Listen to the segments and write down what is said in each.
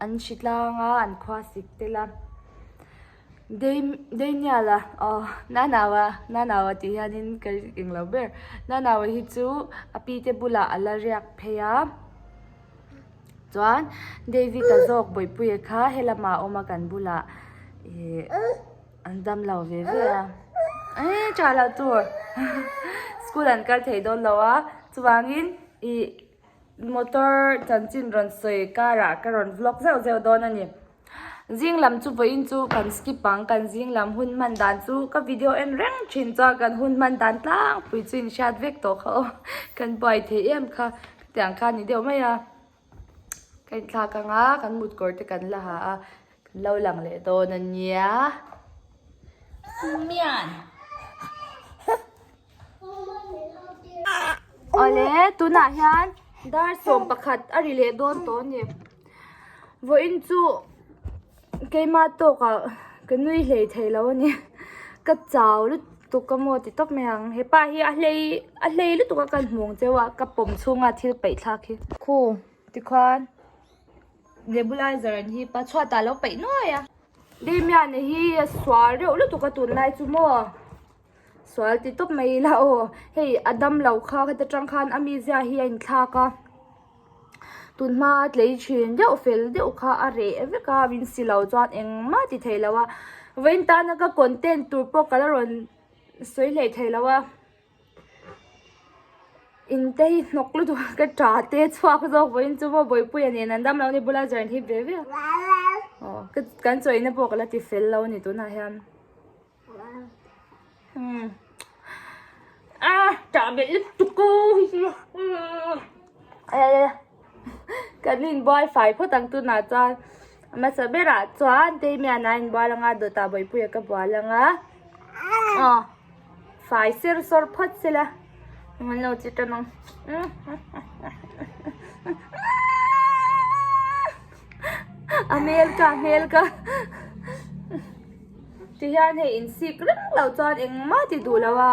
An hri tlang a, an khua sik tel a. Daniel a, Aw, Nanaua, Nanaua tih hianin ka ring eng lo ber. Nanaua hi chu a pi te bulah a la riak phei a. Chuan David a zawk bawihpuia kha he lamah a awm a kan bulah ih an dam lo ve ve a. Eii, Charlotte tur school an kal thei dawn lo a, chuvangin ih Motor chanchin rawn sawi karah ka rawn vlog zeuh zeuh dawn a ni. Zing lam chu vawiin chu kan skip ang, kan zing lam hun hman dan chu ka video en reng thin chuan kan hun hman dan tlangpui chu inhriat vek tawh kha aw. Kan buai thei em kha, tiang kha ni deuh mai a. Ka inthlak ang a, kan mut kawr te kan la ha a. Lo lang leh dawn a nia. Mian. Awle tunah hian dar sawm pakhat a ri leh dawn tawh a ni. Vawiin chu keima tawkah ka nui hlei thei lo a ni. Ka chau lutuk ka maw ti tawp mai ang. Hepa hi a hlei a hlei lutuk a kan hmuh ang cheu a ka pawm chhunga thil peihthlak hi. Khu tikhuan. Nebulizer an hip a, chhuat ah alo peih nuai a. Damian a hi a sual reuh lutuk a tun lai chu maw? Sual ti tawp mai ila aw. Hei a dam lo kha heta tang khan a mi zia hi a in thlak a. Tun hma a tlei thin deuh fel deuh kha a reh vek a, min si lo chuan engmah ti theih lo a. Vawiin tana ka content tur pawh ka la rawn sawi hlei theih lo a. Intei hnawk lutuk a ka ṭa te chhuak zawk vawih in chu hma bawipuia nen an damlo ni bula zan hi be viau aw ka kan chawihna pawh ka la ti fel lo ni tunah hian hmm a ṭa belh lutuk aw hi hi a. Kan inbuai fai phawt ang tunah chuan hmasa berah chuan Teimian a inbual ang a, Dawtah Bawipuia ka bual ang a, aw fai ser sawr phawt sela engmah lo chi tan ang a hmel ka a hmel ka tihian hei insik ringlo chuan engmah ti duhloh a.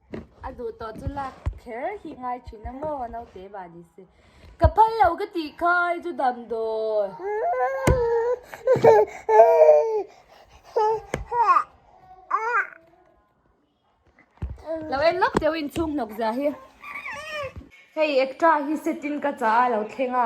A duh tawh chu lak kher hi ngai thin a maw naute bah ni se. Ka phal lo ka tih kha i chu dam dawi. Lo en lawk teu in chhung hnawk zia hi. Hei extra hi set in ka chah a lo thleng a.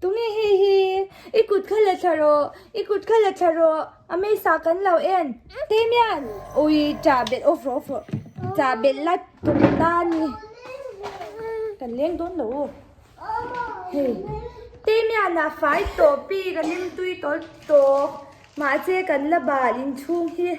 Tunge hei hi? I kut kha la thla rawh, i kut kha la thla rawh, a meisa kan lo en. Damian! Ui, ta belh awfro awfro, ta belh la tum ta ni. Kan leng dawn lo u. Hei, Damian a fai tawh pi kan in tui tawh tawh, mahse kan la bal inchhung hi.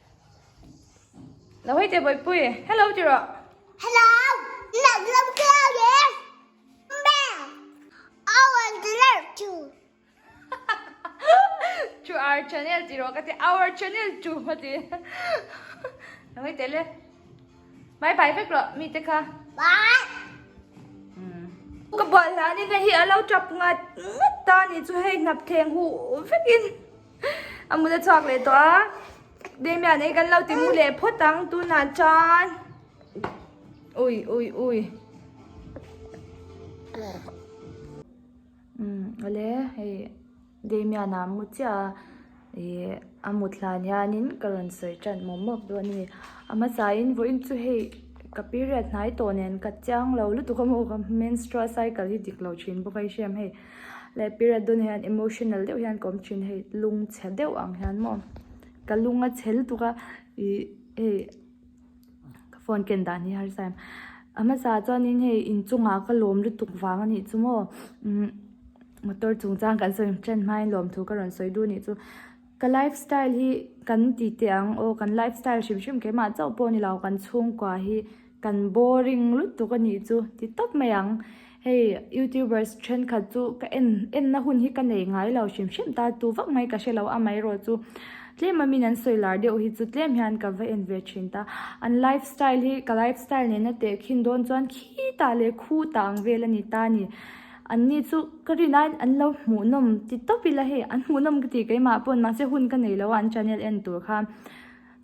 Lo hei te boi pui. Hello ti ro. Hello. Nak lam klau ye. Mbe. I want to learn to. To our channel ti ro ka ti our channel to ma ti. Lo hei te le. Bye bye vek lo mi te kha. Bye. Hmm. Ka bal la ni ve hi alo trap ngat ngat ta ni chu hei nap theng hu vek in. Amula chhuak leh tawh a. Demia nei kan lo ti mu leh phawt ang tunah chuan. Ui ui ui. Umm ale hei Demia na mu chiah a. Ih a mut hlan hianin ka rawn sawi ṭan mawp mawp dawn a ni. A hmasa in vaw in chu hei ka period hnai tawh nen ka chiang lo lutuk a maw menstrual cycle hi dik lo ṭhin bawk a i hriam hei. Leh pira dawn hian emotional deuh hian ka awm thin hei lung chhe deuh ang hian maw ka lung a chhel tuk a ih hei ka phone ken dan hi harsa em a hmasa chuanin hei inchungah ka lawm lutuk vang anih chu maw umm motor chung chuan kan sawi ṭan hmain lawm thu ka rawn sawi dun anih chu ka life style hi kan tihte ang aw kan life style hrim hrim keimah chauh pawh a ni lo kan chhungkua hi. Kan boring lutuk a nih chu ti tawp mai ang. Hei youtubers thenkhat chu ka en enna hun hi ka nei ngai lo hrim hrim ta tu vak mai ka hre lo amaherawh chu tlema min an sawi lar deuh hi chu tlem hian ka va en ve thin ta. An life style hi ka life style nena teh khin dawn chuan khi tah leh khu tah ang vel a ni ta ni. An ni chu ka rin a an lo hmuh nawm ti tawp ila hei an hmuh nawm ka ti keimah pawn mahse hun ka nei lo a an channel en tur kha.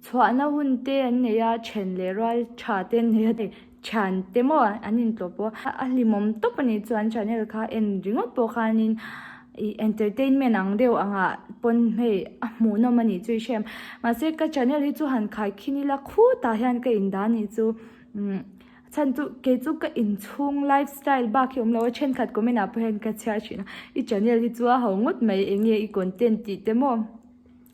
Chhuahna hun te an nei a, chhen leh rual tha te an nei a ni. Thian te maw an intlawh pawh a, a hlimawm tawp a nih chuan channel kha en ringawt pawh khanin ih entertainment ang deuh anga pawn hmei a hmuhnawm a nih chu i hre em. Mahse ka channel hi chu han khai khin ila khutah hian ka in dan hi chu umm a chhan chu kei chu ka inchhung life style bak hi a awm lo a, thenkhat comment ah pawh hian ka chhiar thin a i channel hi chu a hau ngawt mai eng nge i content tih te maw?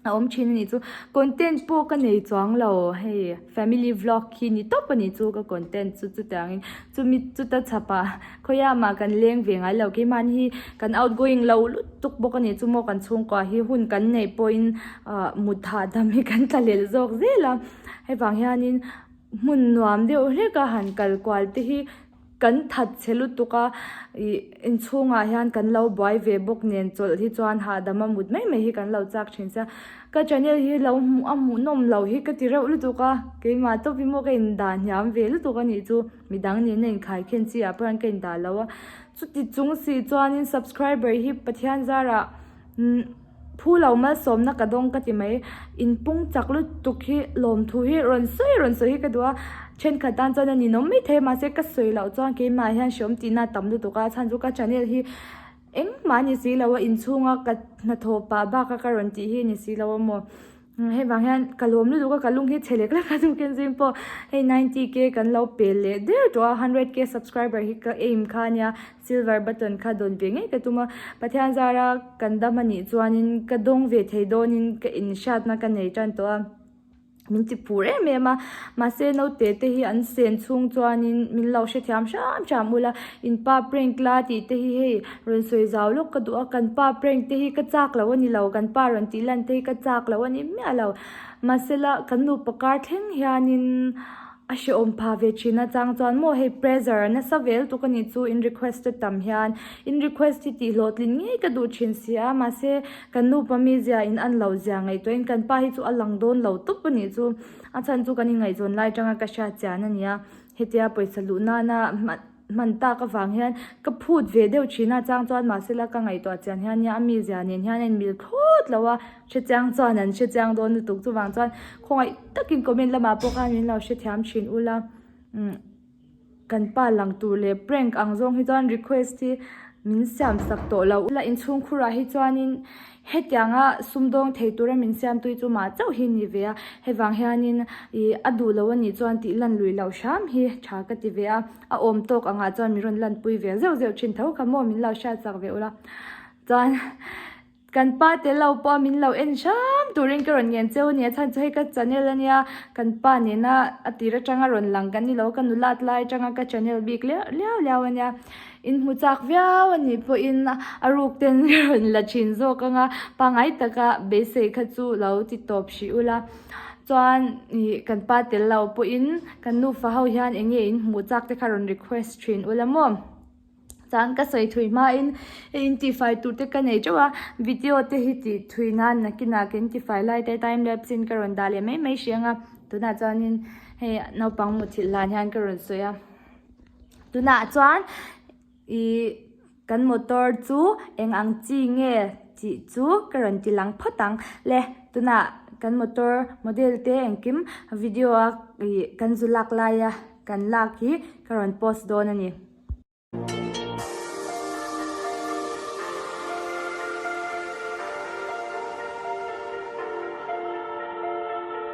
a awm thin anih chu content pawh ka nei chuang lo hei family vlog khi ni tawp anih chu ka content chu chutah angin chumi chuta chhapah khawiamah kan leng ve ngai lo keimahni hi kan outgoing lo lutuk bawk anih chu maw kan chhungkua hi hun kan neih pawhin ah mut hahdam hi kan tla lel zawk zel a hevang hianin hmun nuam deuh hlek a han kal kual te hi-- Kan that chhe lutuk a, inchhungah hian kan lo buai ve bawk nen chawlh hi chuan hahdam a mut mai mai hi kan lo chak thin se. Ka channel hi lo hmuh a hmuh nawm lo hi ka ti reuh lutuk a, keimah tawp hi maw ka in dah hniam ve lutuk a nih chu, midang nena inkhai khian chi ah pawhin ka in dah lo a, chuti chung si chuan in subscriber hi Pathian zar ah Phu lo malsawmna ka dawng ka ti mai. In pung chak lutuk hi lawmthu hi rawn sawi rawn sawi hi ka duh a, thenkhat tan chuan a ninawm maithei mahse ka sawi loh chuan keimah hian hreawm tihna a tam lutuk a, chhan chu ka channel hi engmah a ni si lo a, inchhunga ka hnathawh pah bak a ka rawn tih hi a ni si lo a maw. Hei vang hian ka lawm lutuk a, ka lung hi chhe lek lek a, chu Kenzin pawh hei ninety k kan lo pe leh der tawh a, hundred k subscriber hi ka aim kha a nia, silver button kha dawn ve ngei ka tum a, Pathian zara kan dam anih chuanin ka dawng ve thei dawnin ka inhriatna ka nei tan tawh a, min ti phur em em a, mahse naute te hi an sen chhung chuanin min lo hrethiam hram hram ula, in pa prank la tih te hi hei. Rawn sawi zau lawk ka duh a, kan pa prank te hi ka chak loh a ni lo, kan pa rawn tih lan te hi ka chak loh a ni miah lo. Mahse la kan nupa kar thleng hianin a hrehawm pha ve thin achang chuan maw hei pressure a nasa vel tuk a nih chu in request a tam hian in request hi tih hlawh tlin ngei ka duh thin si a, mahse kan nupa mi zia in an lo zia ngaihtuahin kan pa hi chu a lang dawn lo tawp a nih chu. A chhan chu kan ingaihzawn lai atanga ka hria chian a nia, hetia pawisa luh nana. hman tak avang hian ka phut ve deuh thin a chang chuan mahsela ka ngaihtuah chian hian nia a mi zia nen hian a inmil phut loh a hre chiang chuan an hre chiang dawn lutuk chuvang chuan khawngaih takin comment lamah pawh khan min lo hrethiam thin ula umm kan pa lang tur leh prank ang zawng hi chuan request hi min siam sak tawh lo ula inchhung khurah hi chuanin-- Hetianga sumdawng thei tura min siam tui chu mah chauh hi ni ve a, hevang hianin i a duh lo a nih chuan tih lan lui loh hram hi tha ka ti ve a, a awm tawk angah chuan min rawn lan pui ve zeuh zeuh thin tho kha maw min lo hriat chak ve ula chuan kan pa te lo pawh min lo en hram turin ka rawn ngen cheu a nia chhan chu hei ka channel a nia kan pa nena a tir atanga rawn lang kan ni lo ka nu lat lai atanga ka channel bik liau liau liau a nia. In hmu chak viau a nih pawhin a ruk ten hi rawn la thin zawk ang a, pangai taka beisei kha chu lo ti tawp hrih ula chuan ih kan pa tel lo pawhin kan nufa ho hian eng nge in hmu chak te kha rawn request thin ula maw chuan ka sawi thui hmain hei in tifai tur te ka nei teuh a video te hi ti thui nan nakinah kan tifai lai te time lapse in ka rawn dah leh mai mai hrih ang a tunah chuanin hei naupang mutthilh dan hian ka rawn sawi a. Tunah chuan i kan motor chu eng ang chi nge tih chu ka rawn ti lang phawt ang le. Tunah kan motor model te engkim video a ih kan zu lak laia kan lak hi ka rawn post dawn a ni.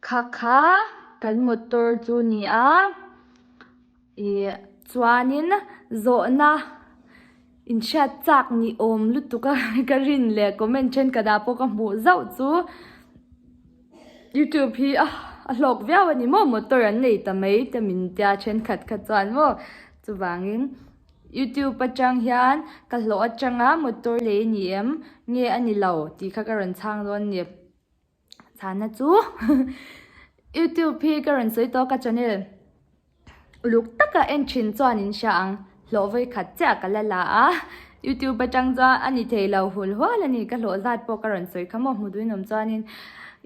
Kha kha kan motor chu ni a ih chuanin zawhna in hriat chak ni awm lutuk a ka rin leh comment then ka dah pawh ka hmuh zauh chu youtube hi a hlawk viau a ni maw motor an nei ta mai ta min tia a thenkhat kha chuan maw chuvangin. Youtube atang hian ka hlawh atang a, motor lei a ni em? Nge a ni lo? tih kha ka rawn chhang dawn a ni. Chhana chu Youtube hi ka rawn sawi tawk a channel uluk taka en thin chuan in hria ang, hlawh vawi khat chiah ka la la a, Youtube atang chuan a ni thei lo hul hual a ni, ka hlawh zat pawh ka rawn sawi kha maw, hmu duhin awm chuanin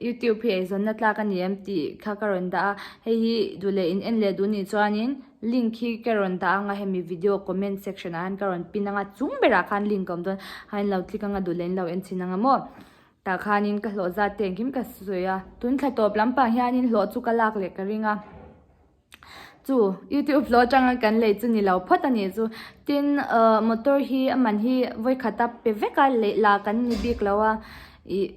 Youtube hi eizawnna tlak a ni em? tih kha ka rawn dah a, hei hi duh leh in en leh duh ni chuanin. Link hi ka rawn dah anga hemi video comment section ahan ka rawn pin anga chung berah khan link a awm dawn a in lo click anga duhlen in lo en chhin anga maw tah khanin ka hlawh zat te engkim ka sawi a tun thla tawp lampang hianin hlawh chu ka lak leh ka ring a chu youtube hlawh atanga kan lei chu ni lo phawt a nih chu tin uh motor hi a man hi vawi khata pe vek a leh lah kan ni bik lo a ih.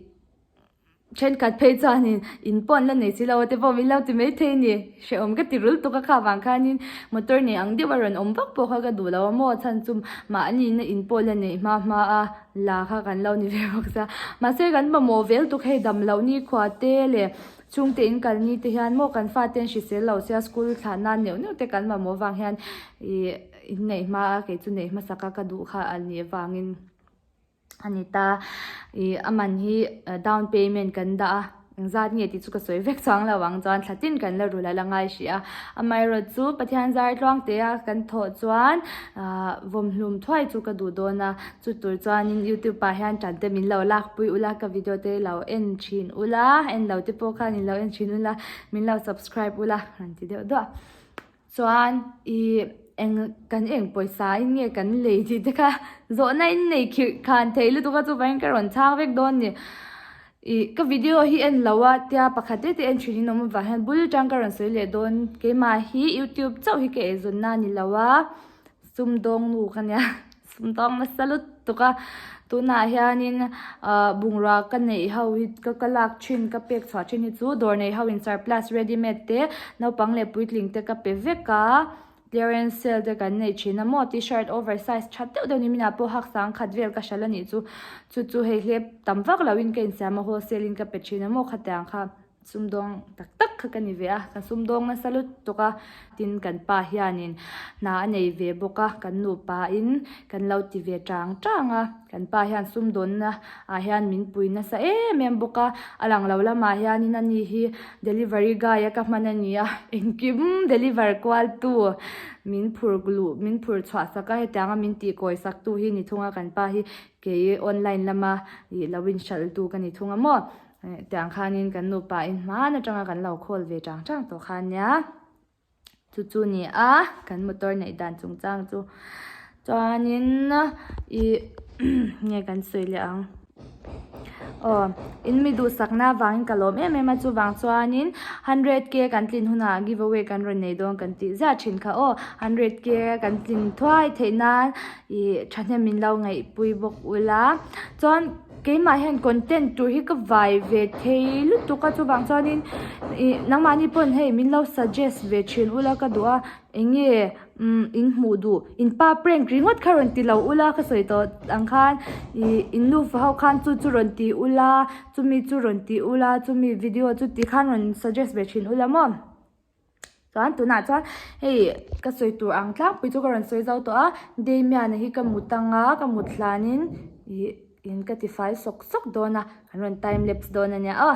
Thenkhat phei chuanin, In pawn la nei si lo, ate pawh min lo ti maithei a ni, hreh awm ka ti rul tuk a, kha vang khanin motor nei ang deuh a rawn awm vak pawh kha ka duh lo a, maw chhan chu mah a nihna in pawn la neih hma hma a la kha kan lo ni ve bawk sa. Mahse kan mamawh vel tuk hei dam loh nikhua te leh chhungte in kal ni te hian maw kan fa ten hrisel lo sia school thlah nan neuh neuh te kan mamawh vang hian ih in neih hma a, kei chu neih hmasak a ka duh kha a nih avangin. a ni ta. Ih a man hi down payment kan dah a, engzat nge tih chu ka sawi vek chang lo ang chuan thlatin kan la ru la la ngai hria. Amaherawhchu chu Pathian zar tluang teh a kan thawh chuan ah vawmhlum thuai chu ka duh dawn a, chu tur chuanin YouTube ah hian ṭan te min lo lakpui ula, ka video te lo en ṭhin ula, en lo te pawh khan in lo en ṭhin ula, min lo subscribe ula, rawn ti deuh duah. Chuan i eng kan eng pawisa in nge kan lei tih te kha zawhna in nei khirh khan thei lutuk a chupa in ka rawn chhang vek dawn ni i ka video hi en lo a tia pakhat te te en thin in awm avang hian bul atang ka rawn sawi leh dawn keimah hi youtube chauh hi ka ei zawn na a ni lo a. Sumdawng nu ka nia, sumdawng nasa lutuk a, tunah hianin bungrua ka neih ho hi, ka lak thin, ka pek chhuah thin hi chu dawr neih ho insurplus readymade te, naupang leh puitling te ka pe vek a, clearance sale te kan nei thin a, maw t-shirt oversize tha deuh deuh ni minah pawh haksang khat vel ka hral a nih chu, chu chu hei hlep tam vak lo in ka insiam a, wholesale in ka pe thin a maw khatiang kha. Sumdawng tak tak kha ka ni ve a, ka sumdawng nasa lut tawk a. Tin, kan pa hianin hna a nei ve bawk a, kan nupa in kan lo ti ve trang trang a. Kan pa hian sumdawnna ah hian min pui nasa em em bawk a. A lang lo lamah hianin a ni hi delivery guy a ka hman a ni a, engkim deliver kual tu min phur luh, min phur chhuah sak a, hetianga min tih kawi sak tu hi ni thung a, kan pa hi kei online lama ih lo inhralh tu ka ni thung a maw. Tiang khanin kan nupa in hman atanga kan lo call ve chang chang tawh khan nia. Chu chu ni a, kan motor neih dan chung chang chu. Chuanin i nge kan sawi leh ang. Aw, in mi duhsakna avangin ka lawm em em a. Chuvang chuanin hundred K kan tlin hunah giveaway kan rawn nei dawn kan tih ziah thin kha aw. Hundred K kan tlin thuai theih nan i thahnem min lo ngaihpui bawk ula. Chuan. Keimah hian content tur hi ka vai ve thei lutuk a chuvang chuanin ih nangmahni pawn hei min lo suggest ve thin ula ka duh a eng nge umm in hmuh duh in pa prank ringawt kha rawn ti lo ula ka sawi tawh ang khan ih in nu fa ho khan chu chu rawn ti ula chumi chu rawn ti ula chumi video chu tikhan rawn suggest ve thin ula maw. Chuan tunah chuan hei ka sawi tur ang tlangpui chu ka rawn sawi zo tawh a Damian a hi ka mut anga ka mut hlanin ih in ka tifai sawk sawk dawn a kan rawn time lapse dawn a nia aw.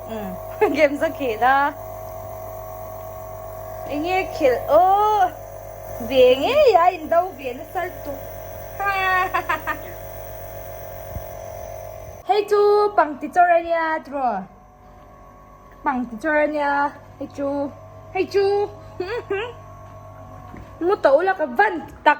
Umm game za khin a. Enge khel aww. Ve ngei a in do ve na sal tuk hahahaha. Hei chu pangti chawr a nia tiraw. Pangti chawr a nia hei chu. Hei chu. Mu to laka van tak.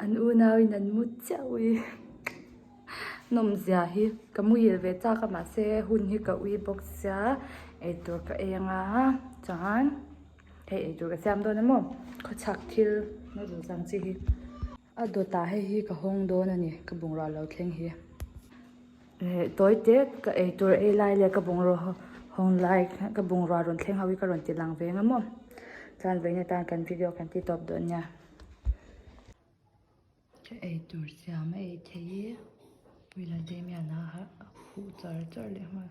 an unau in an mut chiah ui nawmzia hi ka muhil ve chak a mahse hun hi ka ui bawk sia eitur ka eng a chuan-- Hei eitur ka siam dawn emaw? Khawchhak thil mawi lo chang chi hi. A dawtah hei hi ka hawng dawn a ni, ka bungrua lo thleng hi. Hei tawi tek, ka eitur ei lai leh ka bungrua hawng lai, ka bungrua rawn thleng ho hi ka rawn ti lang ve ang emaw? Chuan vawiin atan kan video kan ti tawp dawn nia. Ka eitur siam a ei thei hi, Puila Damian-a a khuh char char leh nghal.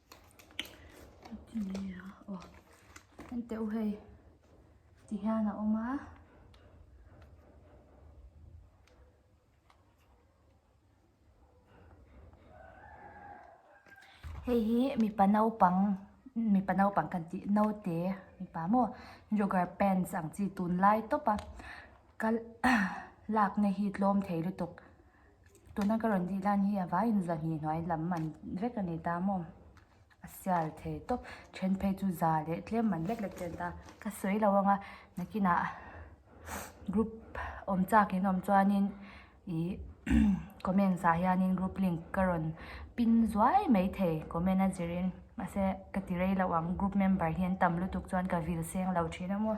henteu hei ti hian a awm a hei hi mipa naupang mipa naupang kan tih naute mipa maw jogger pants ang chi tunlai tawpa kal lakna hi tlawm thei lutuk. Tuna ka rawn dih dan hi a vai in zahni hnuai lam man vek a ni ta maw? A sial thei tawp. Then phei chu za leh tlem man lek lek chen ta. Ka sawi lo ang a, nakinah group awm chak in awm chuanin ihh comments ah hianin group link ka rawn pin zuai mai thei comment a zir in. Mahse ka ti rei lo ang group member hian tam lutuk chuan ka vil seng lo thin a maw?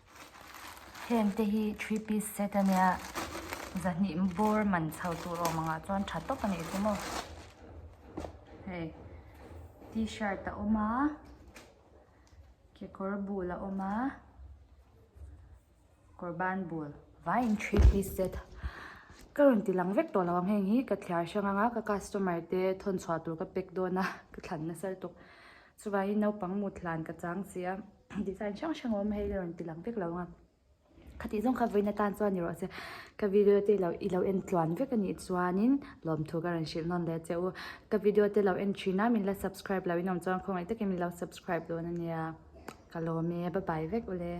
Heng te hi three piece set a nia zahnih bawr man chho tur awm angah chuan tha tawp a nih chu maw hei t-shirt a awm a kekawr bul a awm a kawr ban bul vaiin three piece set ka rawn ti lang vek tawh lo ang heng hi ka thliar hrang anga ka customer te thawn chhuah tur ka pack dawn a ka thlan nasal tuk chuvaiin naupang mut thlan ka chang si a. Design hrang hrang a awm a hei hi a rawn ti lang vek lo ang a, khatih zawng kha vawiina tan chuan erawh se ka video te i lo en tluan vek a nih chuanin lawmthu ka rawn hrilh nawn leh che u. Ka video te lo en thin a min la subscribe loh in awm chuan khawngaih takin min lo subscribe dawn a nia. Ka lawm e, bye bye vek u le.